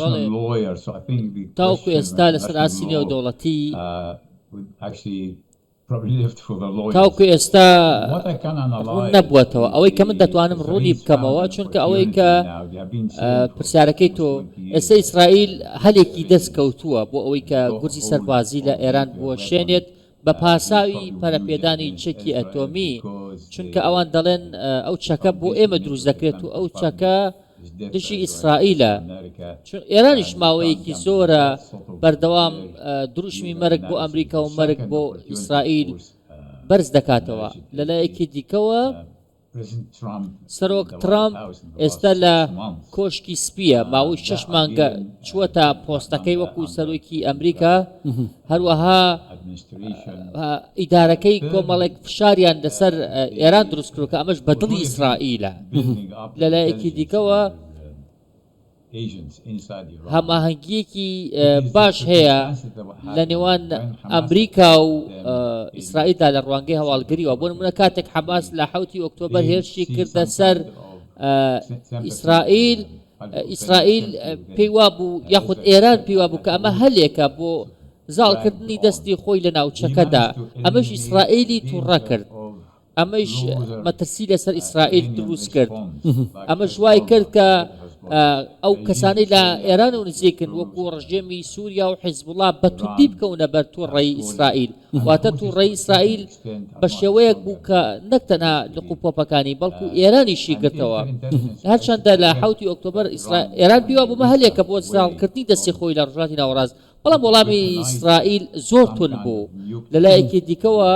بەڵێ، تاوەکو ئێستا لەسەر ئاستی نێودەوڵەتی تاوەکو ئێستا ڕوون نەبووەتەوە ئەوەی کە من دەتوانم ڕوونی بکەمەوە چونکە ئەوەی کە پرسیارەکەی تۆ ئێستا ئیسرائیل هەلێکی دەست کەوتووە بۆ ئەوەی کە گورزی سەربازی لە ئێران بوەشێنێت بە پاساوی پەرەپێدانی چەکی ئەتۆمی، چونکە ئەوان دەڵێن ئەو چەکە بۆ ئێمە دروست دەکرێت و ئەو چەکە دژی ئیسرائیلە چون ئێرانیش ماوەیەکی زۆرە بەردەوام دروشمی مەرگ بۆ ئەمریکا و مەرگ بۆ ئیسرائیل بەرز دەکاتەوە لەلایەکی دیکەوە سەرۆک ترەمپ ئێستا لە کۆشکی سپییە، ماوەی شەش مانگە چووەتە پۆستەکەی وەکو سەرۆکی ئەمریکا، هەروەها ئیدارەکەی کۆمەڵێک فشاریان لەسەر ئێران دروستکردووە کە ئەمەش بە دڵی ئیسرائیلە لەلایەکی دیکەوە. هەماهەنگییەکی باش هەیە لە نێوان ئەمریکا و ئیسرائیلدا لە ڕوانگەی هەواڵگریەوە بۆ نمونە کاتێک حەماس لە حوتی ئۆکتۆبەر هێرشی کردە سەر ئیسرائیل ئیسرائیل پێی وابوو یاخود ئێران پێی وابوو کە ئەمە هەلێکە بۆ زاڵکردنی دەستی خۆی لە ناوچەکەدا ئەمەش ئیسرائیلی تووڕە کرد. ئەمەیش مەترسی لەسەر ئیسرائیل دروست کرد ئەمەش وای کرد کە ئەو کەسانی لە ئێران و نزیکن وەکو ڕژێمی سووریا و حیزبڵا بە توندی بکەونە بەر تووڕێی ئیسرائیل واتە تووڕێی ئیسرائیل بە شێوەیەک بوو کە نەک تەنها لق و پۆپەکانی بەڵکو ئێرانیشی گرتەوە هەرچەندە لە حوتی ئۆکتۆبر ئێران پیوا بوومە هەلێکە بۆ ساڵکردنی دەستی خۆی لە ڕژاتی ناوەڕاست بەڵام وەڵامی ئیسرائیل زۆر توند بوو. لەلایەکی دیکەوە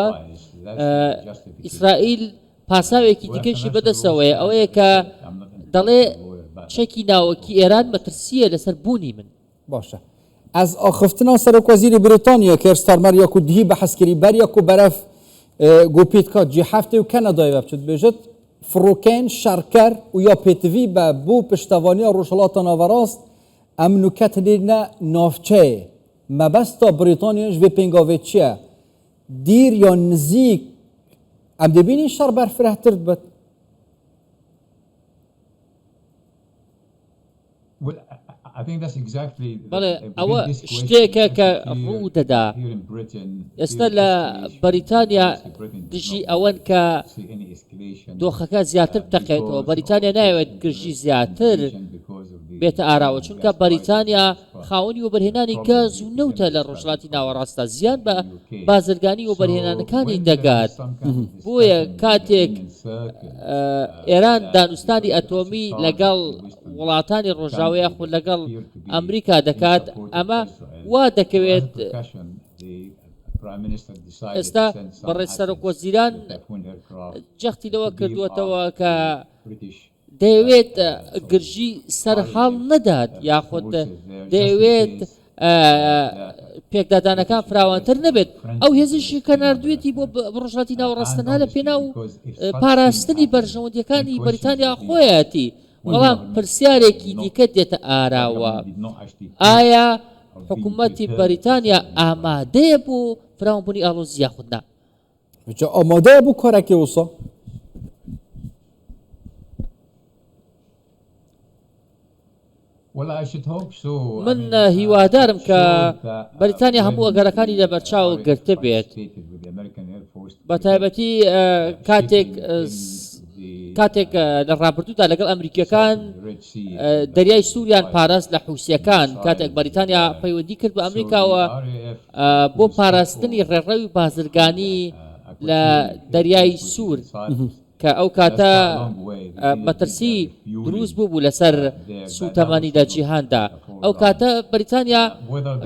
ئیسرائیل پاساوێکی دیکەشی بەدەستەوەیە، ئەوەیە کە دەڵێ چەکی ناوەکی ئێران مەترسییە لەسەر بوونی من. باشە ئەز ئاخفتنا سەرۆک وەزیری بریتانیا کێر ستارمەر یا کو دهی بەحس کری بەر یا کو بەرەف گو پیتکا جی هەفتێ و کەنەدای بە بچت بێژت فڕۆکەین شەڕکەر و یا پێتڤی بە بۆ پشتەوانیا ڕۆژهەڵاتە ناوەڕاست ئەم نوکەتلیرنە نۆڤچەێ مەبەست تۆ بریتۆنیش وێ پێنگۆڤێچیە دیر یۆ نزیک ئەم دەبینی شەڕ بەرفرەهترد بەت. بەڵێ ئەوە شتێکە کە ڕوو دەدا ئێستا لە بەریتانیا دژی ئەوەن کە دۆخەکە زیاتر بتەقێتەوە، بەریتانیا نایەوێت گرژی زیاتر بێتە ئاراوە، چونکە بەریتانیا خاوەنی وەبەرهێنانی گاز و نەوتە لە ڕۆژهەڵاتی ناوەڕاستدا، زیان بە بازرگانی وەبەرهێنانەکانی دەگات، بۆیە کاتێک ئێران دانوستانی ئەتۆمی لەگەڵ وڵاتانی ڕۆژاوە یاخود لەگەڵ ئەمریکا دەکات، ئەمە وا دەکەوێت. ئێستا بەڕێز سەرۆک وەزیران جەختی لەوە کردووەتەوە کە دەیەوێت گرژی سەرهەڵ نەدات یاخود دەیەوێت پێکدادانەکان فراوانتر نەبێت ئەو هێزیشی کە نردوێتی بۆ ڕژاتی ناوەڕاستەنها لە پێنا و پاراستنی بەرژەوەندیەکانی بەریتانیا خۆیەتی بەڵام پرسیارێکی دیکە دێتە ئاراوە ئایا حکومەتی بەریتانیا ئامادەیە بۆ فراوانبوونی ئاڵۆزی یاخود نا؟ جا ئامادەیە بۆ کارەکەی وسا من هیوادارم کە بەریتانیا هەموو ئەگەرەکانی لەبەرچاو گرتبێت. بە تایبەتی کاتێک کاتێک لە ڕابردوودا لەگەڵ ئەمریکیەکان دەریای سووریان پاراست لە حوسەکان کاتێک بەریتانیا پەیوەندی کرد بە ئەمریکاوە بۆ پاراستنی ڕێڕەوی بازرگانی لە دەریای سوور کە ئەو کاتە مەترسی دروست بووبوو لەسەر سووتەمەنی لە جیهاندا ئەو کاتە بەریتانیا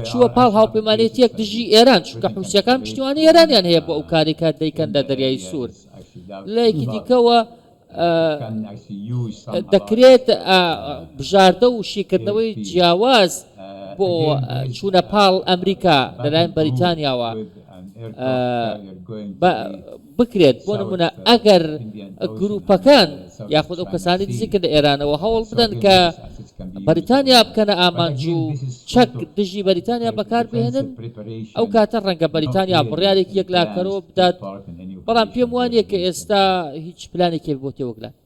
چووە پاڵ هاوپەیمانێتیەک دژی ئێران چونکە حوسەکان پشتیوانی ئێرانیان هەیە بۆ ئەو کارێکە دەیکەن لە دەریای سوور لەیەکی دیکەوە دەکرێت بژاردە و شیکردنەوەی جیاواز بۆ چوونە پاڵ ئەمریکا لەلایەن بەریتانیاوە بکرێت بۆ نمونە ئەگەر گروپەکان یاخود ئەو کەسانی دزی کردنە ئێرانەوە هەوڵ بدەن کە بەریتانیا بکەنە ئامانج و چەک دژی بەریتانیا بەکار بهێنن ئەو کاتە ڕەنگە بەریتانیا بڕیارێکی یەکلاکەرەوە بدات بەڵام پێم وانیە کە ئێستا هیچ پلانێکی بۆ تێوەگلان.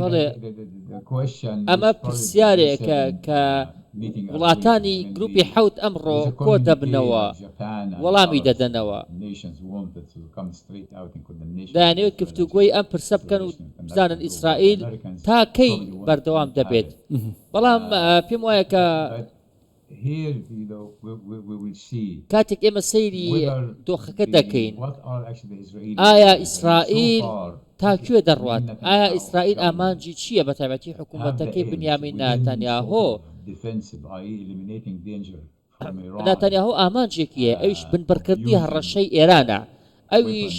بەڵێ ئەمە پرسیارێکە کە وڵاتانی گروپی حەوت ئەمڕۆ کۆ دەبنەوە وەڵامی دەدەنەوە دەیانەوێت گفتوگۆی ئەم پرسە بکەن و بزانن ئیسرائیل تا کەی بەردەوام دەبێت بەڵام پێم وایە کە کاتێک ئێمە سەیری دۆخەکە دەکەین، ئایا ئیسرائیل تا کوێ دەڕوات؟ ئایا ئیسرائیل ئامانجی چییە، بەتایبەتی حکومەتەکەی بنیامین ناتانیاهۆ؟ ناتانیاهۆ ئامانجێکی هەیە، ئەویش بنبڕکردنی هەڕەشەی ئێرانە، ئەویش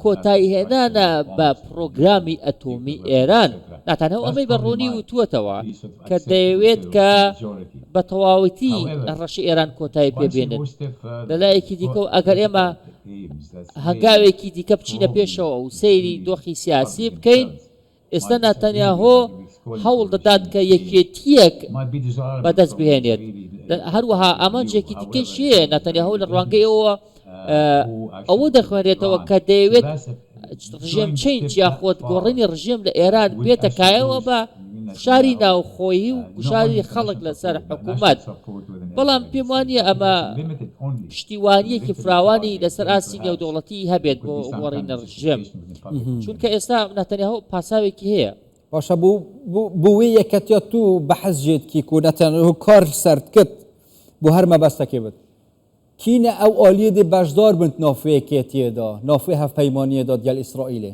کۆتاییهێنانە بە پڕۆگرامی ئەتۆمی ئێران، ناتانیاهو ئەمەی بە ڕوونی وتووەتەوە کە دەیەوێت کە بە تەواوەتی هەڕەشەی ئێران کۆتایی پێ بێنێت. لە لایەکی دیکەوە ئەگەر ئێمە هەنگاوێکی دیکە بچینە پێشەوە و سەیری دۆخی سیاسی بکەین، ئێستا ناتانیاهۆ هەوڵ دەدات کە یەکێتییەک بەدەست بهێنێت، هەروەها ئامانجێکی دیکەیشی هەیە، ناتانیاهۆ لە ڕوانگەی ئەوەوە ئەوە دەخوێنرێتەوە کە دەیەوێت ڕژێم چەینج یاخود گۆڕینی ڕژێم لە ئێران بێتە کایەوە بە فشاری ناوخۆیی و گوشاری خەڵک لەسەر حکوومەت، بەڵام پێم وا نییە ئەمە پشتیوانییەکی فراوانی لەسەر ئاستی نێودەوڵەتی هەبێت بۆ گۆڕینی ڕژێم. چونکە ئێستا ناتەنیاهۆ پاساوێکی هەیە. باشە بو بو بوی یەکەتیە تو بەحس جێت کی کو نەتەنهو کار سەرت کت بو هەر مەبەستەکی بت کینە ئەو ئالیە دێ بەشدار بنت ناف یەکێتیێ دا ناف هەفپەیمانیێ داد گەل ئیسرائیلێ.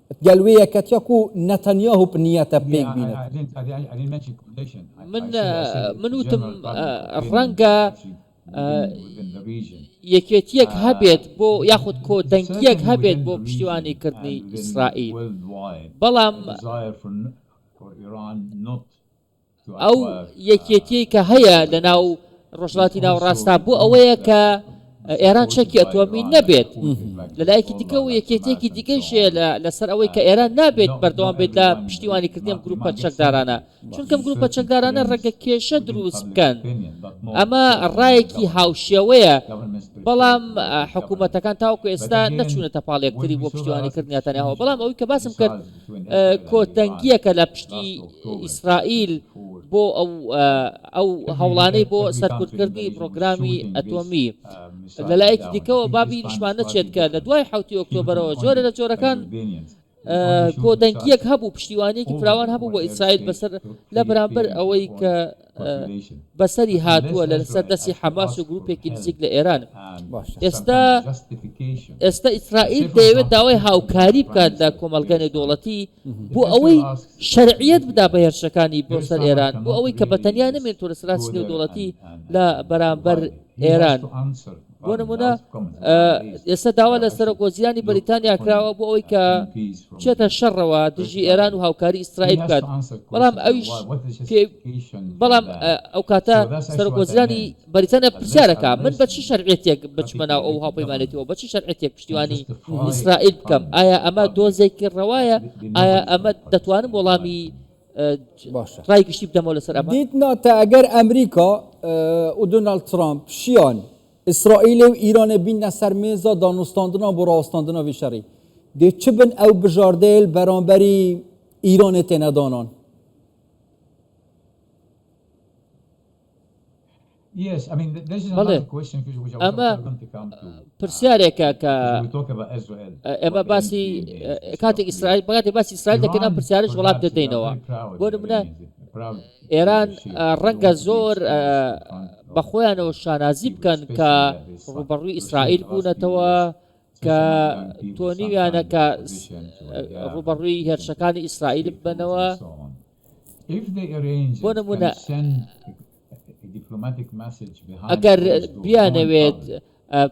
گەل وێ یەکەتیە کو نەتەنیاهو پ نیەتە پێک بینێت. من من وتم ڕەنگە یەکێتیەک هەبێت بۆ یاخود کۆ دەنگیەک هەبێت بۆ پشتیوانی کردنی ئیسرائیل بەڵام ئەو یەکێتیەی کە هەیە لە ناو ڕۆژهڵاتی ناوەڕاستا بۆ ئەوەیە کە ئێران چەکی ئەتۆمی نەبێت لەلایەکی دیکە و یەکێتێکی دیگەشێ لەسەر ئەوەی کە ئێران نابێت بەردەوام بێت لە پشتیوانی کردنیم گروپە چەکدارانە چونکەم گروپە چەکدارانە ڕێگە کێشە دروست بکەن ئەمە ڕایەکی هاوشێوەیە بەڵام حکوومەتەکان تاوکو ئێستا نەچوونەتە پاڵێکتری بۆ پشتیوانی کردنیاتانەوە بەڵام ئەوی کە باسم کرد کۆتەنگییەکە لە پشتی ئیسرائیل بۆ ئەو هەوڵانەی بۆ سەرکوتکردنی پڕۆگرامی ئەتۆمی. لەلایەکی دیکەوە با بیریشمان نەچێت کە لە دوای حەوتی ئۆکتۆبەرەوە جۆرێ لە جۆرەکان کۆدەنگییەک هەبوو، پشتیوانییەکی فراوان هەبوو بۆ ئیسرائیل بەسەر لە بەرامبەر ئەوەی کە بەسەری هاتووە لە سەر دەستی حەماس و گروپێکی نزیک لە ئێران ئێستا ئێستا ئیسرائیل دەیەوێت داوای هاوکاری بکات لە کۆمەلگە نێودوڵەتی بۆ ئەوەی شەرعیت بدا بە هێرشەکانی بۆ سەر ئێران بۆ ئەوەی کە بەتەنیا نمێن تۆ لە سراسی نێودوڵەتی لە بەرامبەر ئێران بۆ نمونە ئێستا داوا لە سەرۆک وەزیرانی بەریتانیا کراوە بۆ ئەوەی کە چێتە شەڕەوە دژی ئێران و هاوکاری ئیسرائیل بکات بەڵام ئەویش بەڵام ئەو کاتە سەرۆک وەزیرانی بەریتانیا پرسیارەکە من بە چی شەرعێتێک بچمە ناو ئەو هاوپەیمانێتەوە بە چی شەرعێتێک پشتیوانی ئیسرائیل بکەم ئایا ئەمە دۆزێکی ڕەوایە ئایا ئەمە دەتوانم وەڵامی باشە ڕای گشتی بدەمەوە لەسەر ئەمە. دیت ناتە ئەگەر ئەمریکا و دۆناڵد ترامپ شیان ئیسرائیل و ئیرانێ بیننە سەر مێزا دانوستاندنان بۆ ڕاوەستاندنا وی شەڕی، دێ چ بن ئەو بژاردەیل بەرامبەری ئیرانێ تێنە دانان؟ بەڵێ ئەمە پرسیارێکە کە ئێمە باسی کاتێک ئیسرائیل بەکاتی باسی ئیسرائیل دەکەن ئەم پرسیارش وڵات دەدەینەوە بۆ منە ئێران ڕەنگە زۆر بە خۆیانەوە شانازی بکەن کە ڕوبەڕووی ئیسرائیل بوونەتەوە کە تۆنیویانە کە ڕوبەڕووی هێرشەکانی ئیسرائیل بنەوە بۆ نمونە ئەگەر بیانەوێت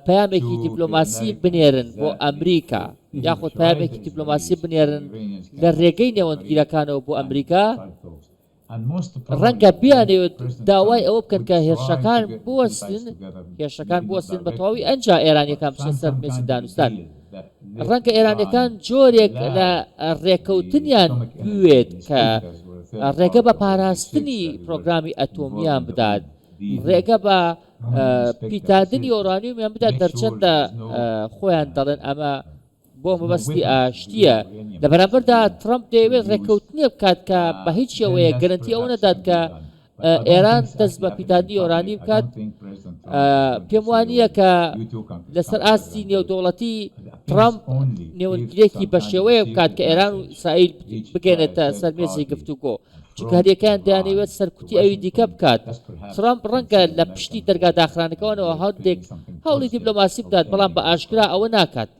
پەیامێکی دیپلۆماسی بنێرن بۆ ئەمریکا یاخود پەیامێکی دیپلۆماسی بنێرن لە ڕێگەی نێوەندگیرەکانەوە بۆ ئەمریکا ڕەنگە بیانەوێت داوای ئەوە بکەن کە هێرشەکان بوەستن هێرشەکان بوەستن بە تەواوی ئەنجا ئێرانیەکان بچنە سەر مێزی دانوستان. ڕەنگە ئێرانیەکان جۆرێک لە ڕێکەوتنیان بوێت کە ڕێگە بە پاراستنی پرۆگرامی ئەتۆمیان بدات، ڕێگە بە پیتاندنی ئۆرانیومیان بدات، گەرچەندە خۆیان دەڵێن ئەمە بۆ مەبەستی ئاشتییە، لە بەرامبەردا ترەمپ دەیەوێت ڕێکەوتنێک بکات کە بە هیچ شێوەیەک گەرەنتی ئەوە نەدات کە ئێران دەست بە پیتاندنی یۆرانیم بکات پێم وانە کە لەسەر ئاستی نێودوڵەتی ترامپ نێونگرێکی بە شێوەیە بکات کە ئێران و ئیسرائیل بگەێنێتە سەرمێسی گفتوگۆ چکارەکان دەیانەوێت سەرکوتی ئەوی دیکە بکات ترامپ ڕەنگە لە پشتی دەرگا داخرانەکەەوەەوە هەندێک هەوڵی دیبلۆماسی بدات بەڵام بە ئاشکرا ئەوە ناکات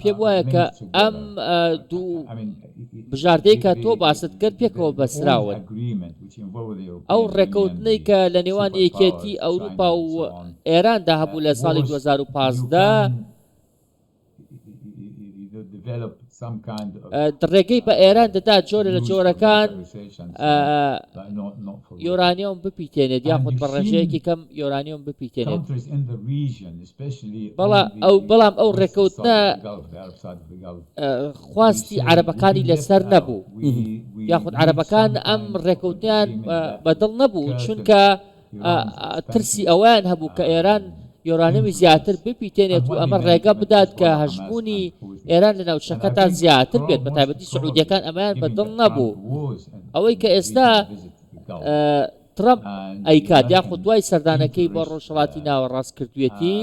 پێم وایە کە ئەم دوو بژاردەی کە تۆ باست کرد پێکەوە بەسراون ئەو ڕێکەوتنەی کە لە نێوان یەکێتی ئەوروپا و ئێراندا هەبوو لە ساڵی 2015 ڕێگەی بە ئێران دەدات جۆرە لە جۆرەکان یۆرانیۆم بپیتێنێت یاخود بە ڕێژەیەکی کەم یۆرانیۆم بپیتێنێت بەڵام ئەو ڕێکەوتنە خواستی عەرەبەکانی لەسەر نەبوو یاخود عەرەبەکان ئەم ڕێکەوتیان بەدڵ نەبوو چونکە ترسی ئەوەیان هەبوو کە ئێران یۆرانیەمی زیاتر بپیتێنێت و ئەمە ڕێگە بدات کە هەژموونی ئێران لە ناوچەکەتا زیاتر بێت بە تایبەتی سعودیەکان ئەمەیان بە دڵ نەبوو ئەوەی کە ئێستا ترەمپ ئەیکات یاخود دوای سەردانەکەی بۆ ڕۆژهڵاتی ناوەڕاست کردوێتی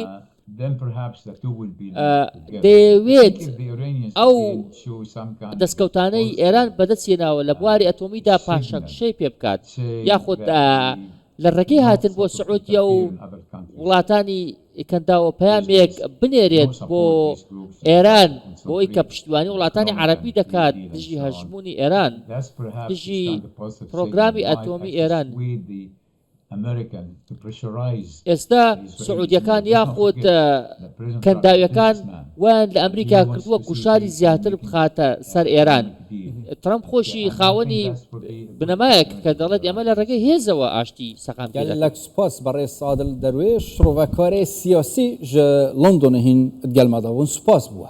دەیەوێت ئەو دەستکەوتانەی ئێران بەدەستیێناوە لە بواری ئەتۆمیدا پاشەکشەی پێ بکات یاخود لە ڕێگەی هاتن بۆ سعودیە و وڵاتانی کەنداوە پەیامێک بنێرێت بۆ ئێران بۆی کە پشتیوانی وڵاتانی عەرەبی دەکات دژی هەژموونی ئێران دژی پرۆگرامی ئەتۆمی ئێران. ئێستا سعودیەکان یاخود کەنداویەکان وایان لە ئەمریکا کردووە گوشاری زیاتر بخاتە سەر ئێران. ترەمپ خۆشی خاوەنی بنەمایەکە کە دەڵێت ئێمە لە ڕێگەی هێزەوە ئاشتی سەقام پێ دەکەین. گەلەک سوپاس بەڕێز سادڵ دەروێش، شڕۆڤەکارێ سیاسی ژە لەندۆنە هین ئدگەلمادا بوون، سوپاس بووە.